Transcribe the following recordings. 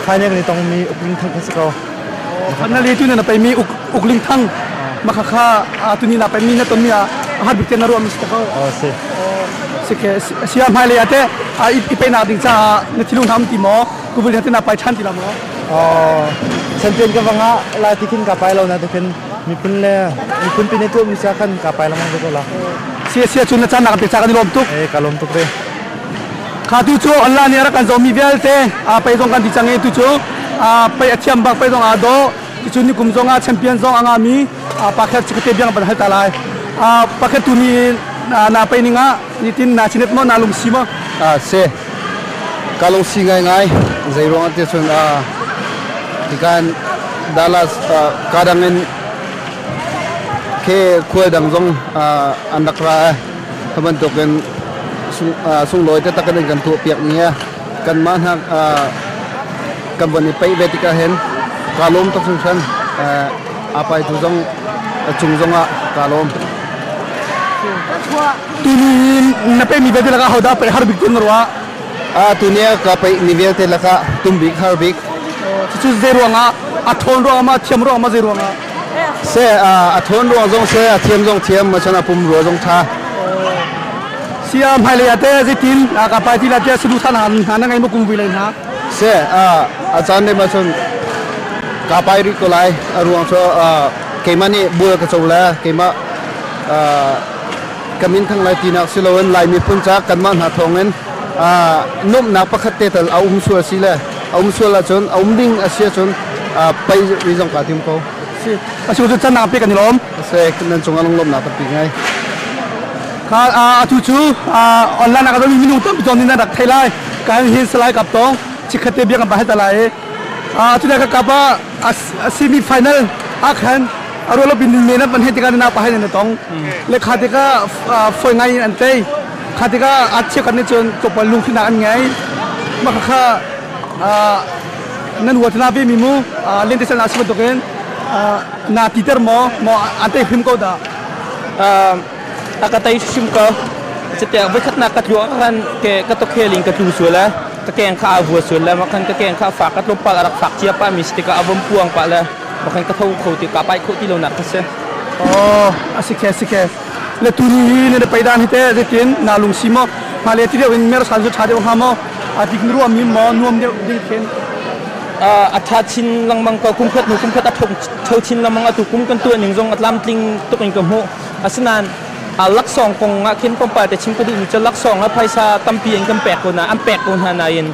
thainek le tongmi uk ling thang kha si ko na le tu na na peimi uk uk ling thang makha kha tu ni na peimi na tonmi a hat bik te na ruam si ko o si si ke sia mai le ate a i pe na ding cha na thilu nam ti mo kubul hate na pai than ti la mo o chanten ka wanga la tikhin ka pai lo na tikhin mipun le mipun pine tu mi cha khan ka pai la mang ko la sia sia chun na chan na ka pe cha ka ni lom tuk e ka lom tuk re kha tu cu Allah nih a rak kan zohmi vialte pei zong kan ti cang i tu cu pei a thiam bak pei zong aa daw cucu nikum zong ah champion zong a ngami pakhat si kate biang ban hal ta lai pakhat tu ni na pei ning ah nitin na chinet mo na lungsi mo se ka lungsi ngai ngai zei ruang te chun tikan dala kadang in ke kual dang zong an rak ra Kha bantukin sunglawi taktak in kan tuahpiak ni ah kanmah hna kan von i paih ve tikah hin kaa lawm tuk hringhran. Aa paitu zong cung zongah kaa lawm. Tuni na pe mi vialte lakah hodah paih har bik tun na ruah? Tuni ah ka paih mi vialte lakah tum bik har bik. Cucu zei ruangah? A ṭhawn ruangah, a thiam ruangah, zei ruangah? Seh a thawn ruang zong seh a thiam zong thiam ma chan a pum ruwa zong tha. Sia hmailei ate zitin ka pai ti la tia sulu than han hna na ngai mu kum vi lai na. Se a chan dei ma chun ka pai ri ko lai a ruang cho keima nih bul ka cho la keima kamin thang lai tinak si loin lai miphun ca kanmah hna thawngin numnak pakhat te tal a um sual si le a um sual ahcun a um ding a si ahcun pei mi zong kaa tim ko. Atu cu cannak pe kan i lawm. Nan cungah lunglawmnak tampi ngai. Atu cu online ah ka domi minung tampi ton in nan rak thei lai. Kan hin salai kap tong. Chikkhatte biakam pa heta lai. Atu ne ka kap a semi final ah khan a rualo bin men an hei tikah na pa hai ne tong. Lekha tikah foi ngai in an tei. Kha tikah a chiakan nih cun tlawmpal lungthinak an ngei. Mah kha nan huat hna vemi mu lentisal na si bantukin naa titer maw? Maw an tei hrim ko dah? A ka tei hrim ko. Catiang voikhatnak ka tlu kan ke ka tokheling ka tlu sual le ka keng kha a vua sual le makhan ka keng kha a fak ka tlawmpal a rak fak cia pa mi tikah a vom puang pa le makhan ka tho kho ti ka pai kho ti lonak ka si. Oh, a si khe, si khe. le tu ni hi ne pei dan hi te zetin na lung si mo ma le ti deu in mer san zu tha deu ha mo adik nu am mi mo nuam deu ding thin atha chin langmang ko kumkhat nu kumkhat athong tho chin lamang atu kum kan tu ning zong atlam tling tuk in ka mu asinan laksong kong nga khin pompa te chim kudi ni cha laksong a phaisa tampi in kan pek ko na an pek ko na na in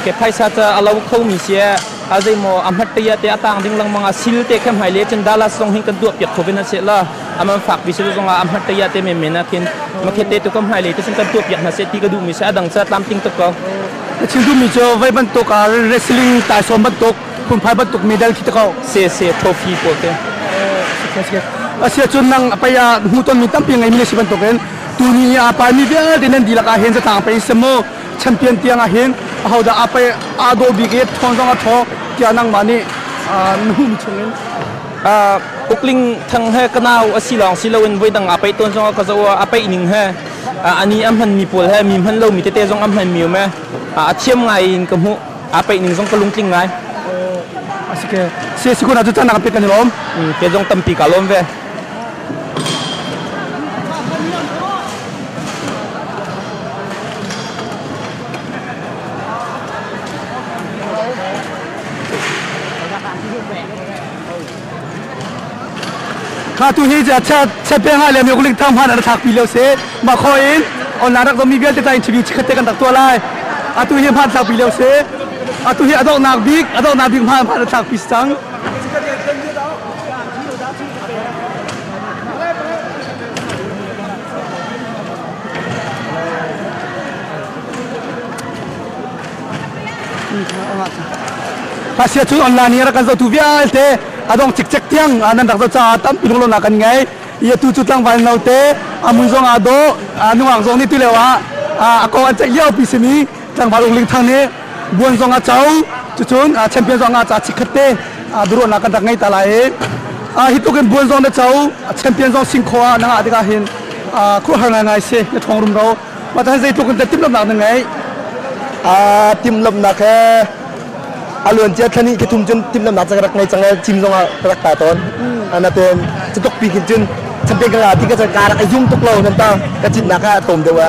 ke phaisa cha alaw kho mi sia a zeimaw a hmat te te a tang ding lengmang a sil te khe hmai le cun Dallas zong hi kan tuah piak khovin a se la aman fak bi se zong a hmat te ya te men men a khin makhet te ko hmai le te cun kan tuah piak hna se ti ka duh mi se adang sa tlam ting tuk ko a chim duh mi cu vai bantuk a wrestling tai som bantuk phunphai bantuk medal khi ta ko se se trophy ko te asia cun nang apay a hmu ton mi tampi ngai mi si bantuk in tu ni a pa mi vialte nan dilak a hen sa tang pe semo champion tiang ah hin ahodah a pei aa daw bik i ṭhawng zong a ṭhawng tiah nangmah nih nuhum chungin ukling thang he ka nau a si lawng si loin voidang a pei tawn zong ka zo a pei ning he ani a hman mi pawl he mi hman lo mi tete zong a hman mi me a thiam ngai in ka hmuh a pei ning zong ka lungtling ngai asike se sikuna cu tan nak pe kan lom ke zong tampi ka lom ve kha tu hi cha cha pe ha le mi kuling thang han an thak pi lo se ma kho in online rak mi vialte ta interview chikhate kan dak to lai atu hi han thak pi lo se atu hi adok nak bik adok nak bik ma ma thak pi sang Asia cu online i rak kan zoh tu vialte adong cikcek tiang nan rak zoh caah tampi lunglonak kan ngei ia tu cu tlangval note amun zong aa dawh nungak zong nih tu leo ah a kong an ceih lio pi simi tlangval ung ling thang nih buan zong a co cucun champion zong a ca chikkhat te biaruahnak kan rak ngei ta lai i hi tuk in buan zong na co champion zong sing kho ah na ngah tikah hin khuahar ngaingai si na ṭhawng rumro mah tan zeitluk in timhlamhnak na ngei timhlamhnak he a luancia thlan i thum cun timhlamhnak cang rak ngei cang cim zong ah ka rak ta tawn anaten cutuk pi khin cun champion ka nga ti ka cang ka rak a yung tuk lo nan ta ka citnak ha atom deuh a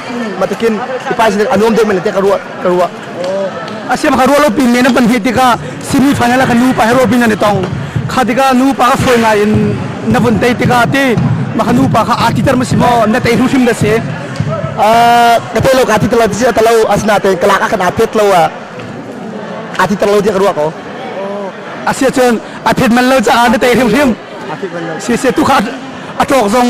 matakin i pai sinak a nuam deuh men le te ka ruah ka ruah asiam ka ruah lo pin men pan hi tikah semi final ka nu pa he robin an i tong kha tikah nu pa ka foi ngai in na vun tei tikah ti ma ka nu pa kha ati ter ma si mo na tei hrim hrim da se ka tei lo ka ti telo ti telo asna te kala ka kana pet lo a ti telo ti ka ruah ko asia chun a phet man lo cha na tei hrim hrim si se tu kha a tok zong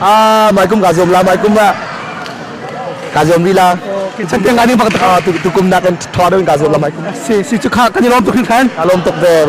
Ah, mai kum ka zuam la, mai kum la. Ka zuam ri la. Chan tiang ani pak ta tu tu kum nak kan thwa deuh ka zuam la mai kum. Si si chu kha kan i lom tuk hin khan. Ka lom tuk ver.